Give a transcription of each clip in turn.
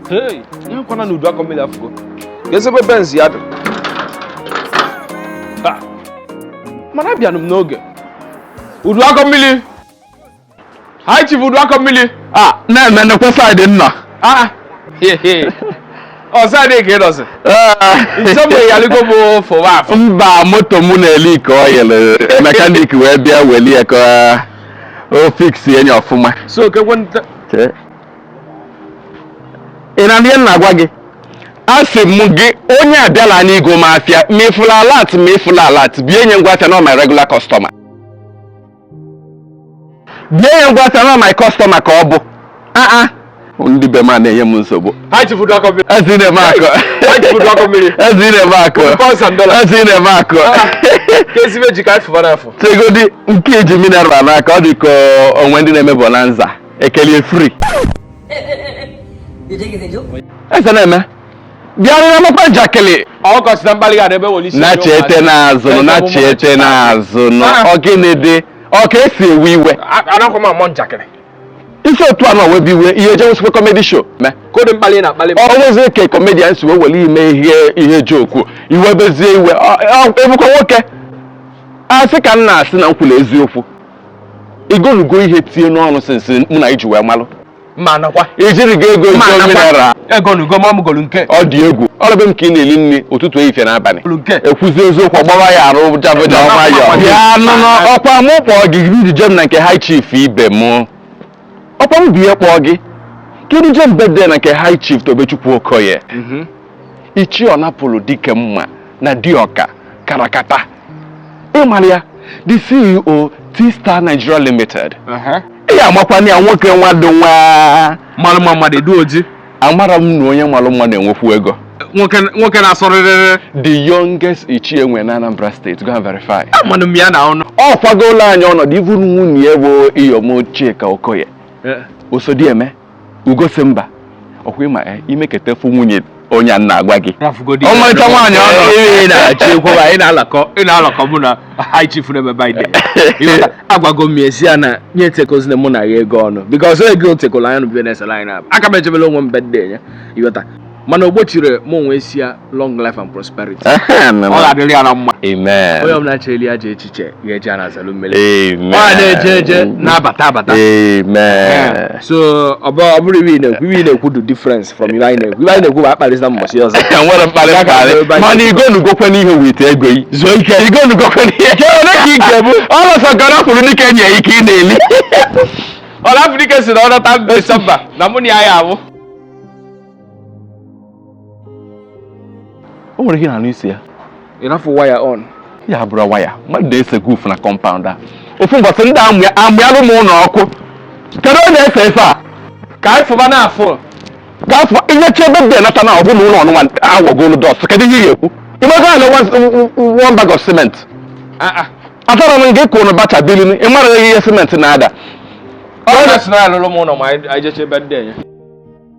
Hey, ihe kwana n'udu akọ mmiri afụgo. Ga-ezebe benz ya dị. Ha! Mana abịanụ m n'oge. Udu akọ mmiri. High chief udu akọ mmiri. a na-eme nekwe side ị nọ Ah! He he. Ọ side ka ị nọzi. Nsogbu ịyaligo bụ fụwa afụ. mba moto mụ na-eleak oil mechanic wee bịa welie ka o fix enyi ọfụma so kekwe nta Chee. ị na-anụ ihe m na-agwa gị asị m gị onye abịala anyị igo m afịa ma ị fụla alert ma ị fụla alert bie nye ngwa afịa na my regular customer bie nye ngwa afịa na my customer ka ọ bụ aa ndị be m a na-enye m nsogbu eze na-eme akụ eze na-eme akụ eze na-eme akụ negodi nke ị ji mineral n'aka ọ dị ka o nwe ndị na-eme bonanza ekelie free eze na-eme bịarụra mekwa njakịrị na chete n'azụ na chete n'azụ ọ gịnị dị ọ ka esi ewe iwe ị si otu a na-ewebe iwe ihe ejewesikwa comedy show mee kodi mkpali ị na-akpali m o nwezi ka comedian si wee were ime ihe ihe joke ị webezie iwe Ọ- ọ- ị bụkwa nwoke asị ka m na-asị na m kwuru eziokwu ị golugo ihe tie n'ọnụ since mụ na ị ji wee malụ ma nakwa ijiri gị ego Ma ego nakwa. mineral ego na ugo ma ọ mụgolu nke ọ dị egwu ọlọ be m ka ị na-eli nri ụtụtụ ehihie na abalị kwuru nke ekwuzi eziokwu ọgbara ya arụ jabụja nwayọ bịa nụnụ ọkwa mụ kpọọ gị gị duje m na nke high chief ibe mụ ọkwa m bie kpọọ gị ka ị duje m birthday na nke high chief tobechukwu okoye ichie ọnapụlụ dike mma na dioka karakata ị mara ya the ceo t-star nigeria limited ị ga-amakwana ya nwoke nwadụ nwa mmanụ mma mmadụ edu oji amara m na onye malụ mma na-enwekwu ego nwoke nwoke na-asọrịrịrị the youngest ichie e nwe na anambra state go and verify amanụ m ya na ọnụ ọ kwagola anyị ọnọdụ ivu nwunye ya bụ iyom chika okoye osodieme ugosimba ọkwa ị ma eh, imeketefu nwunye onye m na-agwa gị Rafugodi Ọmarịcha nwaanyị ọ nọ. Ị na-achị ekwuba, ị na-alakọ ị na-alakọ mụ na high chief n'ebe birthday agwago m esi ya na nye tekozina mụ na ya ego ọnụ because ego otekolo anya nụbie na-esela anyị na-abụ aka m echebela onwe m birthday ya ị ghọta mana o gbochiri m ịwish ya long life and prosperity ọ ga-adịrị ya na mma onye ọbụla cheli ya ajọ echiche ya eji ana azalu mmiri ọ na-eje eje na-abata abata so ọ bụrụ ihe m na-ekwu ihe ị na-ekwu du difference from ife anyị na-ekwu ife anyị na-ekwu bụ akparịsịna mbọchị ọzọ e nwere mkparị mkparị mana igonugokwe n'ihe with ego yi zuo ike igonugokwe n'ihe ole ka ike bụ ọlọsọ gara kwuru n'ike nye ike ị na-eli all Africa si na ọ nata December na mụ na ya ya abụ o nwere ihe na-anụ isi ya ị rafụ waya on ya bụrụ waya mmadụ na-ese guf na compound a ofu mbọsị ndị a mụnyalụ m ụlọ ọkụ kedu onye ese efe a ka afụba na afụ ka afụ ihe chebe dị nata na ọbụla ụlọ ọnụnwa awọgolu dust kedu ihe ị ga-ekwu ịmaga ala one bag of cement ah, ah. atọrọ m gị kwụrụ bacha bilin ị mara ihe cement na-ada ọ na-asị na alụrụ m ụlọ ma anyị jechebe ndị enye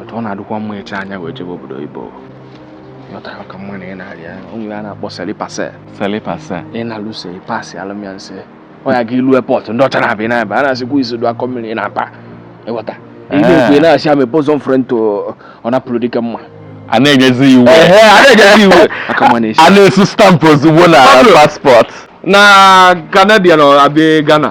otu ọ na-adịkwa mma eche anya wee jebe obodo oyibo yọta ka mma na ị na-arịa onye a na-akpọ selipase selipase ị na-alụso ịpasị alụmya nse ọ ya ga ilu airport ndị ọcha na-abịa ị na-abịa a na-asịkwa isi dụ akọ mmiri ị na-aba ịghọta ihe ekwe eh. na-asị ama ebozo m frento ọ napụrụ dike mma a na-enyezi iwu a na-asụ stamp ozugbo na passport na Canadian abịa Ghana